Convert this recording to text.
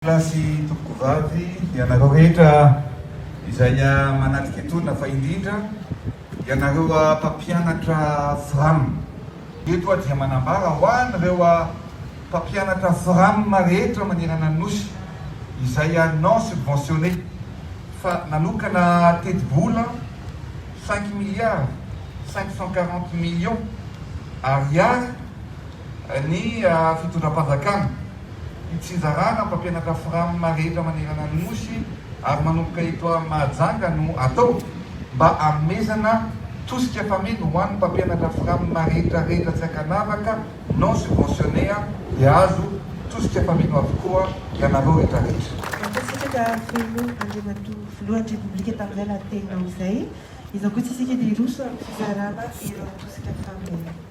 Lahy sy tompoko vavy, ianareo rehetra izay manatrika etoana, fa indrindra ianareo mpampianatra fram. Eto aho dia manambara ho an'ireo mpampianatra fram rehetra manerana ny Nosy izay non subventionné fa nanokana tetibola cinq milliards cinq cent quarante millions Ariary ny fitondram-panjakana, hitsinjarana mpampianatra framma rehetra manerana ny Nosy ary manomboka eto Mahajanga no atao mba hanomezana tosika fameno ho an'ny mpampianatra framma rehetra rehetra tsy ankanavaka non subventionné a dia azo tosika fameno avokoa ianareo rehetra rehetra. Mankasitraka feno Andriamatoa Filohan'ny Repoblika tamin'izay lahateninao izay. Izao koa tsy isika dia hiroso amin'ny fizarana ireo tosika fameno.